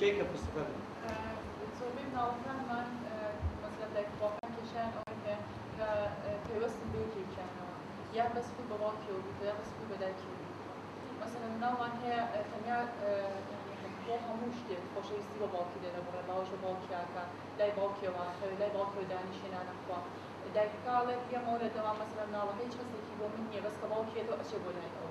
کێ کە پسپەر بوو؟ زۆربەی مناڵەکانمان مەسەلەن دایک و باوکان کێشەیان ئەوەی هەیە کە پەیوەستن بە یەکێکیانەوە یان بەس خۆی بە باوکیەوە بیتەوە یان بەس خۆی بە دایکیەوە بیتەوە مەسەلەن مناڵمان هەیە تەنیا بۆ هەموو شتێک خۆشەویستی بە باوکی لێ دەبڕێ باوەش بە باوکیاکە لای باوکیەوە ئاخەوێ لای باوکیەوە دانیشێ نانەخوا دایکەکە ئەڵێ پێمەوە لە دەوام مەسەلەن مناڵەکە هیچ هەستێکی بۆ من نییە بەس کە باوکیەتەوە ئەچێ بۆ لای ئەو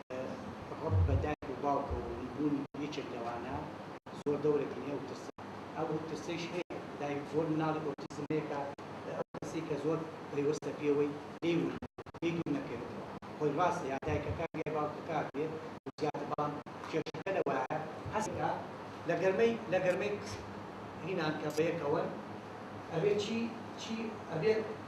ڕەبط بە دایک و باوکەوە و نبوونی یەکێک لەوانە زۆر دەورێک هەیە ئەو ترسە ئەو ترسەیش هەیە دایک زۆر مناڵی ئۆتیزم هەیە کە ئەو کەسەی کە زۆر پەیوەستە پێوەی لێی ون لێی دوور نەکەوێتەوە خۆی ڕاستە یا دایکەکە یا باوکەکە بێت و زیاتر بەڵام کێشەکە لەوایە هەستە لە گەرمەی لە گەرمەی هینان کە بەیەکەوەن ئەوێ چی چی ئەبێت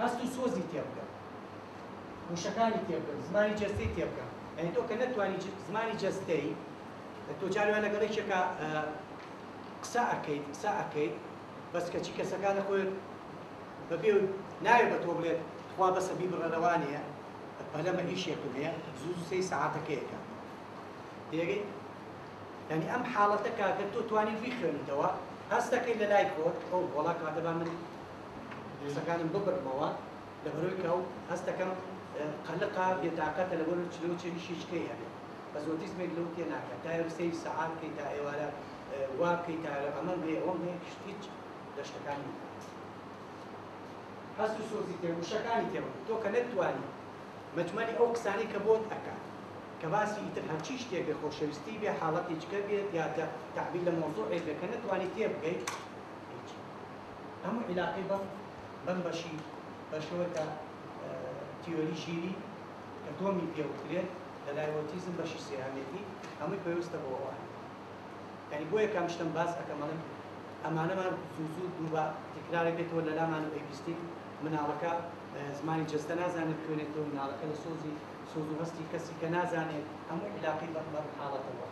هەست و سۆزی تێبگە وشەکانی تێبگە زمانی جەستەی تێبگە ئەی تۆ کە نەتوانی زمانی جەستەی تۆ جارێ وای لەگەڵ یەکێکا قسە ئەکەیت قسە ئەکەیت بەس کەچی کەسەکە لە خۆت بەبێ ناوێ بە تۆ بڵێت خوا بەسە بیبڕەرەوانەیە پەلەمە ئیشێکم هەیە زوو سەی سەعاتەکەیەکە تێگەی یعنی ئەم حاڵەتە کاکە تۆ توانی بیخوێنیتەوە هەستەکەی لە لای خۆت ئەو وڵا کاتەبا من درێسەکانم ببڕمەوە لەبەرۆی کە و هەستەکەم قەلقە بێتاقەتە لەبەرۆی چلە و چێوی شیچکەی هەبێ بەس ئۆتیزمێک لەو تێ ناکا تا ئێرۆ سەیر سەعات بکەی تا ئێوارە وا بکەی تا ئێرۆ ئەمەم هەیە ئەوەم هەیە کشت هیچ لە شتەکانی نەتوانستم هەست و سۆزی تێ وشەکانی تێ بکەم تۆ کە نەتتوانی مەجمەلی ئەو قسانەی کە بۆت ئەکا کە باسی ئیتر هەرچی شتێک بێ خۆشەویستی بێ حاڵەتیچکە بێت یا تە تەعبیر لە مەوزوعێک بێ کە نەتوانی تێ بگەی هیچ هەموو عیلاقەی بەم بەم بەشی بەشەوە کە تیۆری ژیری کە دۆمی پێ وترێت لە لای ئۆتیزم بەشی سێیانێتی هەمووی پەیوەستە بۆ ئەوان یعنی بۆیە کام شتم باس ئەکەم ئەڵێم ئەمانەمان زوو زوو دووبا تکرارێک بێتەوە لە لامان و پێویستی مناڵەکە زمانی جەستە نازانێت خوێنێت تۆ مناڵەکە لە سۆزی سۆز و هەستی کەسی کە نازانێت هەموو عیلاقەی بەم بەم حاڵەتەوە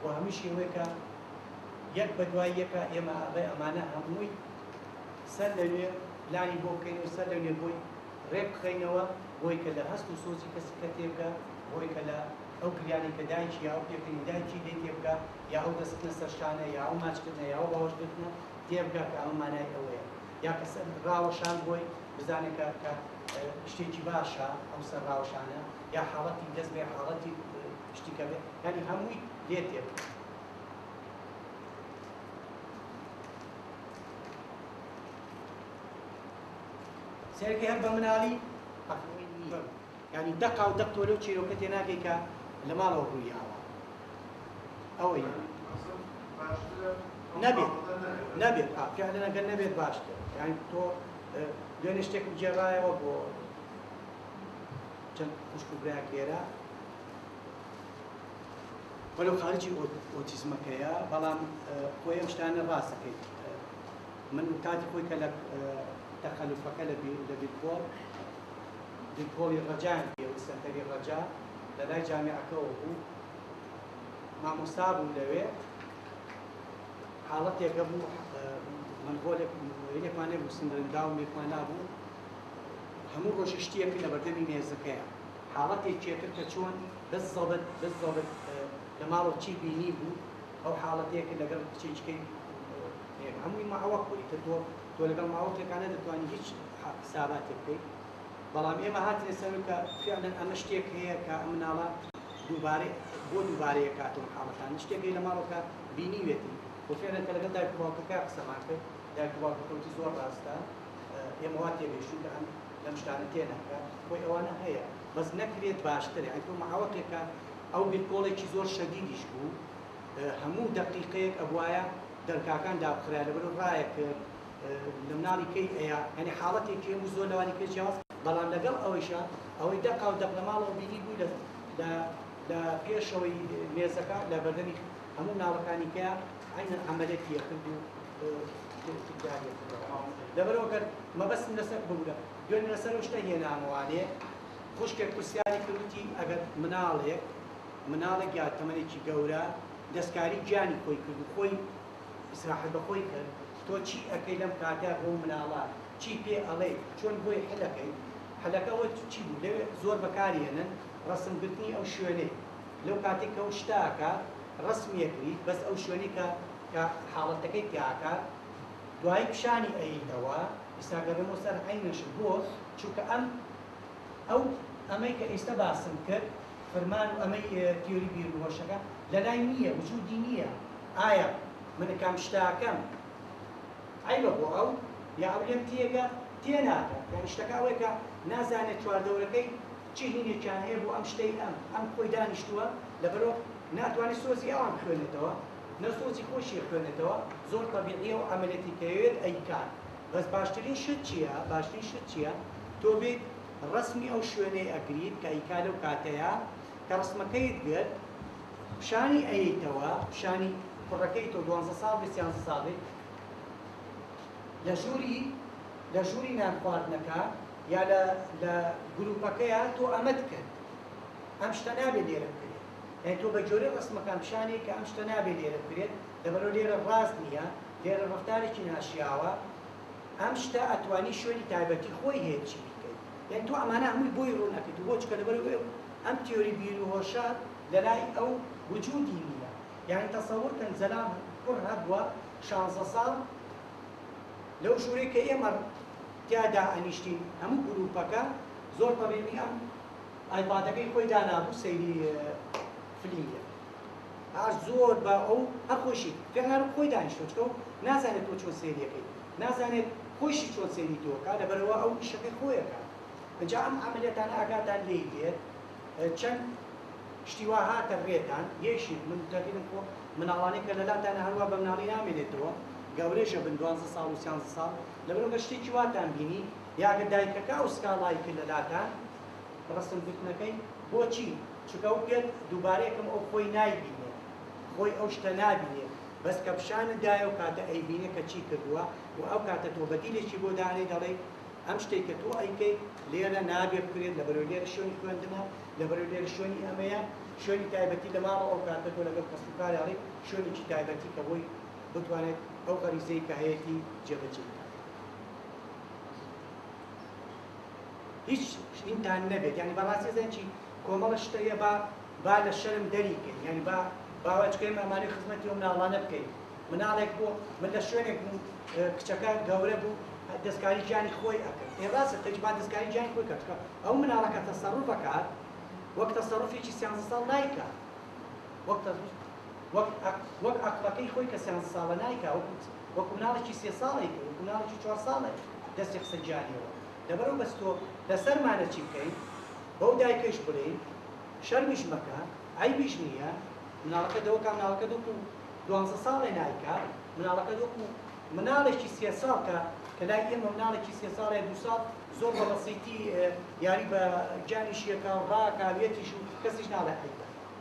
و هەمیشی ئەوەیە کە یەک بە دوای یەکا ئێمە ئاغای ئەمانە هەمووی سەر لەنوێ پلانی بۆ بکەین و سەر لەنوێ بۆی رێک بخەینەوە بۆی کە لە هەست و سۆزی کەسی کە تێبگا بۆی کە لە ئەو گریانەی کە دایکی یا ئەو پێکەنی دایکی لێی تێبگا یا ئەو دەستخستنە سەر شانە یا ئەو ماچ کردنە یا ئەو باوەش گرتنە تێبگا کە ئەمە مانای ئەوەیە یا کە سەر راوەشان بۆی بزانێ کە کە شتێکی باشە ئەو سەر راوەشانە یا حاڵەتی دەست بێ حاڵەتی شتی کە بێت یانی هەمووی لێ تێک سێرگی هەر بە مناڵی ینی دەقا و دەق تۆ لەو چیرۆکە تێ ناگەی کە لە ماڵەوە ڕووی ئاوە ئەوەی نەبێت نەبێت ئافیانەگە نەبێت باشتر یان تۆ دوێنێ شتێکم جێڕایەوە بۆ چەند خوشک و برایەک لێرە وەلەو خارجی ئۆتیزمەکەیە بەڵام خۆی ئەم شتانە ڕاست دەکەیت من کاتی خۆی کە لە تەخەلوفەکە لە بیرکۆڵ بیرکۆڵی ڕەجان پێوە سەنتەری ڕەجا لە لای جامعەکەەوە بوو مامۆستا بوو لەوێ حاڵەتێکە بوو من ڕۆلێک مۆینێکمانێ بوو سندرندا و مێکمان نابوو هەموو ڕۆژی شتیەک لە بەردەمی مێزەکەیە حاڵەتی چێتر کە چۆن بززبت بززبت لە ماڵەوە چی بینیبوو ئەو حاڵەتەیەکە لەگەڵ کچێچکەی هێ هەمووی ماوە کوری تر تۆ تۆ لەگەڵ ماوەتێکا نەدەتوانی هیچ حساباتێک بکەیت بەڵام ئێمە هاتنە سەرو کە فعلا ئەمە شتێک هەیە کە ئەم مناڵە دووبارە بۆ دووبارەیە کاتەوە حاڵەتان شتێکی لە ماڵەکە بینیوێتی وفعلا کە لەگەڵ دایک و باوکەکە قسەمان کرد دایک و باوکەکەوتی زۆر ڕاستە ئێمە وا تێگەیشتوگان لەم شتانە تێناگا خۆی ئەوانە هەیە بەس نەکرێت باشترە ئەی تۆ مەعاوەتێکە ئەو بیرکۆڵێکی زۆر شەدیدیش بوو هەموو دەقیقەیەک ئەبوایە دەرکاکان دابخرای لەبەرو ڕایە کرد لە مناڵی کەی ئەیا یعنی حاڵەتێکی هەبوو زۆر لەوانی پێ جیاواز بەڵام لەگەڵ ئەوەیشا ئەوەی دەقا و دەق لە ماڵەوە بینی بووی لە لە لە پێشەوەی مێزەکە لە بەردەمی هەموو مناڵەکانی کەیا عەینەن عەمەلێکی ئەکرد و لەبەرئەوە گەر مەبەستم لەسەر ببورە دوێنێ لەسەر ئەو شتە هێنامەوانێ خوشکێک پرسیاری کرد وتی ئەگەر مناڵێک مناڵێک یا تەمەنێکی گەورە دەستکاری گیانی خۆی کرد و خۆی ئیسراحەت بە خۆی کرد تۆ چی ئەکەی لەم کاتە بۆ مناڵە چی پێ ئەڵێ چۆن بۆی حلەکەی حلەکە وە چی بوو لەوێ زۆر بەکارهێنن ڕسم گرتنی ئەو شوێنەی لەو کاتێک کە ئەو شتاکە ڕسمیەکریت بەس ئەو شوێنی کە کە حاڵەتەکەی تیاکات دوایی پیشانی ئەییتەوە ئیستا گەڕێمەوە سەر عەین نەشر بۆ چونکە ئەم ئەو ئەمەی کە ئیستە باسم کرد فرمان و ئەمەی تیۆری بیرو هۆشەکە لەلای نییە وجودی نییە ئایا من ئەکام شتاکەم عەیبە بۆ ئەو یا ئەو لێم تێگە تێناگات یانی شتەکە ئەوەیە کە نازانێت چواردەورەکەی چ هینێکیان هەیە بۆ ئەم شتەی ئەم ئەم خۆی دانیشتووە لەبەرو ناتوانێت سۆزی ئەوان بخوێنێتەوە. نە سۆزی خۆشی ئەخوێنێتەوە زۆر تەبیعیە و عەمەلێتی کەوێت ئەیکات بەس باشترین شت چیە باشترین شت چیە تۆ بیت ڕەسمی ئەو شوێنەی ئەگریت کە ئەیکا لەو کاتەیا کە ڕەسمەکەیت گرت پیشانی ئەیەیتەوە پیشانی کوڕەکەی تۆ دوانزە ساڵ بیت سیانزە ساڵ بیت لە ژووری لە ژووری نان خواردنەکە یا لە لە گروپەکەیا تۆ ئەمەت کرد ئەم شتە نابێت لێرە بکرێت. یانی تۆ بە جۆرەی ڕەسمەکان پیشانێی کە ئەم شتە نابێ لێرە بکرێت لەبەرو لێرە ڕاست نیە لێرە ڕەفتارێکی ناشیاوە ئەم شتە ئەتوانی شوێنی تایبەتی خۆی هەیە چی بیکەی یانی تۆ ئەمانە هەمووی بۆی ڕوون ئەکەیت و بۆ چکە لەبەرو ئێو ئەم تیۆری بیر و هۆشە لەلای ئەو وجودی نیە یانی تەسەور کەن زەلام کوڕ هەبووە شانزە ساڵ لەو ژورەی کە ئێمە تیا دائەنیشتین هەموو گروپەکە زۆر تەبیعی ئەم ئایپادەکەی خۆی دانابوو سەیری فلیم دەکرد ئاش زۆر بە ئەو هەر خۆشی فێرنارو خۆی دانیشتۆ چکە و نازانێت تۆ چۆن سەیریەکەی نازانێت خۆشی چۆن سەیری تۆکە لەبەرەوە ئەو ئیشەکەی خۆیەکە جا ئەم عملیاتان ئاگاتان لێی دێت چەند شتیوا هاتە ڕێتان یەشی من تەقیدم خۆ مناڵانی کە لەلاتانە هەروە بە مناڵی نامێنێتەوە گەورێشە بن دوانزە ساڵ و سیانزە ساڵ لەبەرەوە شتێکی واتان بینی یاگە دایکەکە ئەو سکاڵای کرد لەلاتان ڕەسم گوتنەکەی بۆچی چونکە ئەو پێت دووبارە یەکەم ئەو خۆی نایبینێ خۆی ئەو شتە نابینێ بەس کە پیشانت دایە و کاتە ئەیبینێ کە چی کردووە و ئەو کاتە تۆ بەدیلێکی بۆ دانێ دەڵێی ئەم شتەی کە تۆ ئەیکەی لێرە نابێ بکرێت لەبەرەوەی لێرە شوێنی خوێندنە لەبەرەوەی لێرە شوێنی ئەمەیە شوێنی تایبەتی لە ماڵەوە ئەو کاتە تۆ لەگەڵ کەس و کار ئەڵێی شوێنێکی تایبەتی کە بۆی بتوانێت ئەو غەریزەی کە هەیەتی جێبەجێ بکات هیچ شتینتان نەبێت یانی با ڕاستی زانین چی کۆمەڵە شتە یە با با لە شەرم دەری کەین یانی با باوە چکە ئێمە ئەمانەی خزمەتی و مناڵانە بکەین مناڵێک بۆ من لە شوێنێک بوو کچەکە گەورە بوو دەستکاری گیانی خۆی ئەکرد ئێ ڕاستە تەج با دەستکاری گیانی خۆی کە چکە ئەو مناڵەکە تەسەڕوفەکات وەک تەسەڕوفێکی سیانزە ساڵ نایکات وەک تەسەڕوف وەک وەک عەقڵەکەی خۆی کە سێ هەزە ساڵە نایکا وەکو وەکو مناڵێکی سێ ساڵە یکە وەکو مناڵێکی چوار ساڵە دەستی قسەی جاریەوە دەبەرو بەس تۆ لەسەرمانە چی بکەین بەو دایکەش بلێین شەرمیش مەکە عەیبیش نیە مناڵەکەت دەوە کا مناڵەکەت وەکو دوانزە ساڵێ نایکا مناڵەکەت وەکو مناڵێکی سێ ساڵ کە کە لای ئێمە مناڵێکی سێ ساڵێ دوو ساڵ زۆر بە بەسیتی یاری بە گیانیش یەکا و ڕاکا وێتیش و کەسیش ناڵێ عەیبە.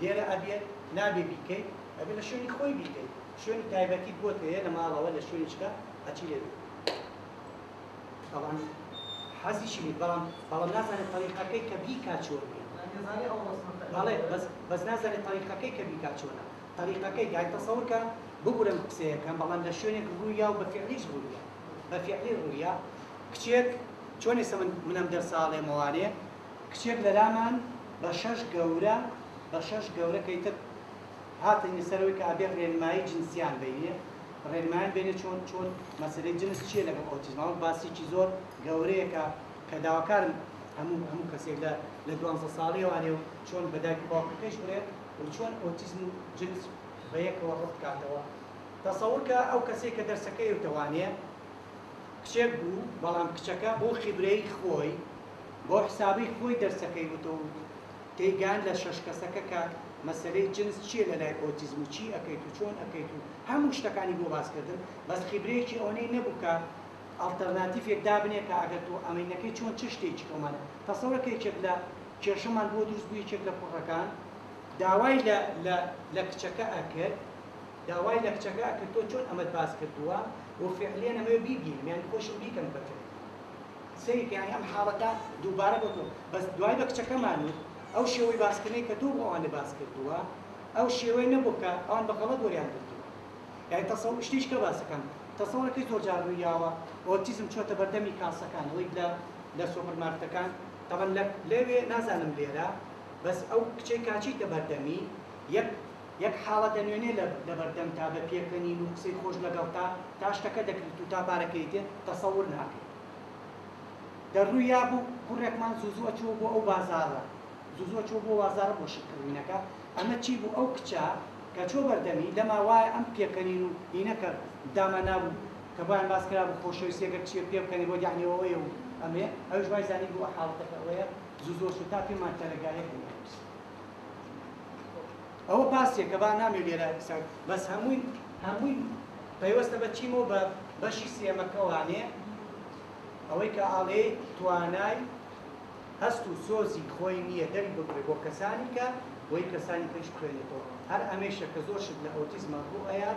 لێرە ئەبێت نابێ بیکەیت ئەبێت لە شوێنی خۆی بیکەیت شوێنی تایبەتیت بۆت هەیە لە ماڵەوە لە شوێنی چکە ئەچی لێ بیکەیت تەبعەن حەزیشی بیت بەڵام بەڵام نازانێت تەریقەکەی کە بیکا چۆن بەڵێ بەس نازانێت تەریقەکەی کە بیکا چۆنە تەریقەکەی یای تەسەور کە ببورە من قسەیەکەم بەڵام لە شوێنێک ڕوویا و بە فعلیش ڕوویا بە فعلی ڕوویا کچێک چۆن ئێستا من منم دە ساڵێ مەوانێ کچێک لەلامان بە شەش گەورە بە شەش گەورە کەی تر هاتنی سەر ئەوەی کە ئەبێ رێنمایی جنسیان بینێ رێنمایان بینێ چۆن چۆن مەسەلەی جنس چییە لەگەڵ ئۆتیزمەوە باسیکی زۆر گەورەیەکە کە داواکارم هەموو هەموو کەسێک لە لە دوانزە ساڵیەوانێ و چۆن بە دایک و باوکەکەیش بڵێ و چۆن ئۆتیزم و جنس بە یەکەوە ڕەت کاتەوە تەسەور کە ئەو کەسێک کە دەرسەکەی وتەوانێ کچێک بوو بەڵام کچەکە بۆ خیبرەی خۆی بەو حسابەی خۆی دەرسەکەی وتووت تێیگەیاند لە شەش کەسەکە کە مەسەلەی جنس چیە لە لای ئۆتیزم و چی ئەکەیت و چۆن ئەکەیت و هەموو شتەکانی بۆ باس کردم بەس خیبرەیەکی ئەوەنەی نەبوو کە ئەڵتەرناتیفێک دابنێ کە ئەگەر تۆ ئەمەی نەکەی چۆن چ شتێکی تۆمانە تەسەورە کە یەکێک لە کێشەمان بۆ دروست بوو یەکێک لە کوڕەکان داوای لە لە لە کچەکە ئەکرد داوای لە کچەکە ئەکرد تۆ چۆن ئەمەت باس کردووە و فعلیەن ئەمەوێ بیبینم یانی خۆشم بیکەم بە تۆ سەیری کە یانی ئەم حاڵەتە دووبارە بۆتۆ بەس دوای بە کچەکەمان وت ئەو شێوەی باسکردنەی کە تۆ بۆ ئەوان باس کردووە ئەو شێوەیە نەبوو کە ئەوان بە غەڵەت وەریان گرتووە یانی تەسەو شتیش کە باسەکەم تەسەوەرەکەی زۆر جار ڕووی یاوە ئۆتیزم چۆتە بەردەمی کاسەکان ئەوەی لە لە سۆپەر مارکتەکان تەبەن لە لەوێ نازانم لێرە بەس ئەو کچەی کاچیتە بەردەمی یەک. یەک حاڵە دەنوێنێ لە لەبەردەمتا بە پێکەنین و قسەی خۆش لەگەڵتا تا شتەکە دەکریت و تا پارەکەی دێت تەسەور ناکەی دەروویا بوو کوڕێکمان زوو زوو ئەچووە بۆ ئەو بازاڕە زوو زوو ئەچووە بۆ بازاڕە بۆ شت کڕینەکە ئەمە چی بوو ئەو کچە کە چووە بەردەمی لەما وایە ئەم پێکەنین و هینەکە دامانابوو کە بۆیان باس کرابوو خۆشەویستی ئەگەر کچێ پێ بکەنێ بۆ دانەوەیە و ئەمێ ئەویش وای زانی بوو حاڵەتەکە ئەوەیە زوو زوو ئەچوو تا پێمان تەرەگایەک بوو ئەوە باسێکە با نامێ لێرە قسان بەس هەمووی هەمووی پەیوەستە بە چیمەوە بە بەشی سێمەکەوانێ ئەوەی کە ئاڵێ توانای هەست و سۆزی خۆی نییە دەری بگرێ بۆ کەسانی کە بۆی کەسانی پێش بخوێنێتەوە هەر ئەمێشە کە زۆر شت لە ئەوتیزمە بۆ ئەیە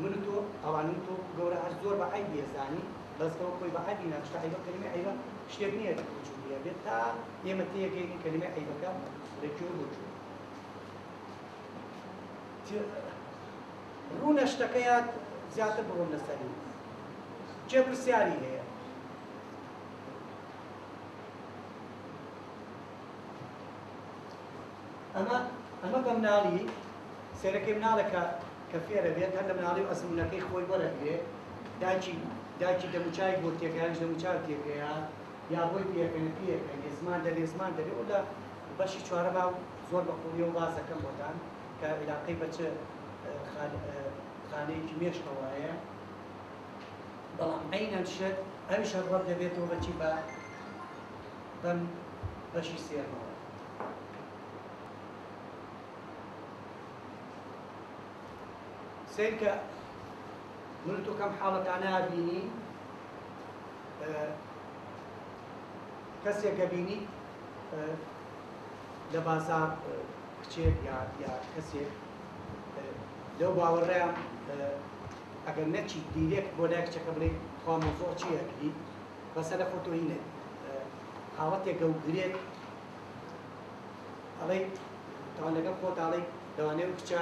من تۆ ئەوانم تۆ گەورە هەر زۆر بە عیبێزانی بەس بەوە خۆی بە عیبی ناشتە عیبە کەلمە عیبە شتێک نییە بچووک بێت تا ئێمە تێگەیین کەلیمەی عەیبەکە لە گوێ و بۆچوون ڕوونە شتەکەیان زیاتر بڕۆم لەسەری کێ پرسیاری هەیە ئەمە ئەمە بە مناڵی سێرەکەی مناڵێکە کە فێرە بێت هەر لە مناڵی و ئەزمونونەکەی خۆی وەرەگرێت داچی داچی دەموچای بۆ تێکیان دەموچاو تێکەیە یا بۆی پێکەنە پێکە یێ زمان دەبێ زمان دەبێ و لە بەشی چوارەما زۆر بە قوڵییەوە باس دەکەم بۆتان کە ئیلاقەی بە چ خان خانەیەکی مێشکەوە هەیە بەڵام عەینەن شت ئەویش هەر ڕەت دەبێتەوە بە چی بە بەم بەشی سێەمەوە سیرکە من تۆ کەم حاڵەتانە بینی کەسێک گەبینی لە بازار کچێک یا یا کەسێک لەو باوەڕەیە ئەگەر نەچی دیرێک بۆ لای کچەکە بڵێ خوا مۆزۆ چی ئەگری بەسە لە خۆتۆی نێت حاڵەتێک گەو گرێت ئەڵێ تاوان لەگەڵ خۆتاڵی لەوانەیە کچە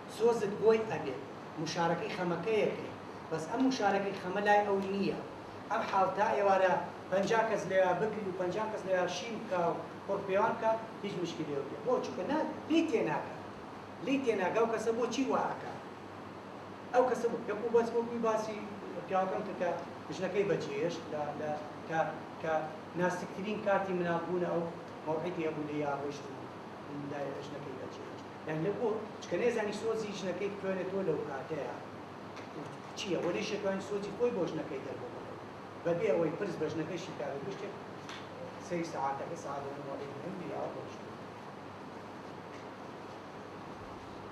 سۆزت بۆی ئەبێت موشارەکەی خەمەکەیەتی بەس ئەم موشارەکەی خەمە لای ئەو نیە ئەم حاڵ تا ئێوارە پەنجا کەس لەوێا بگری و پەنجا کەس لەوێا شین بکا و قوڕ پێوان بکا هیچ مشکی لێو نیە بۆ چونکە نا لێی تێناگا لێی تێناگا ئەو کەسە بۆ چی وا ئەکا ئەو کەسە بۆ دەک و بەس وەکوی باسی پیاوەکەم کرد کە ژنەکەی بە جێێشت لە لە کە کە ناسکترین کاتی مناڵ بوونە ئەو مەوعیدی هەبوو لێیا ڕۆیشت و دایە ژنەکەی بە جێێشت یان لە بۆ چکە نەیزانی سۆزی ژنەکەی بتوێنێتەوە لەو کاتەیە چییە وە نەیشەتوانی سۆزی خۆی بۆ ژنەکەی دەربۆ بە بێ ئەوەی پرس بە ژنەکەشی بکات و گشتێک سەری سەعاتەکە سەعات لە نۆ ڕۆژی هەندی ئاو ڕۆشت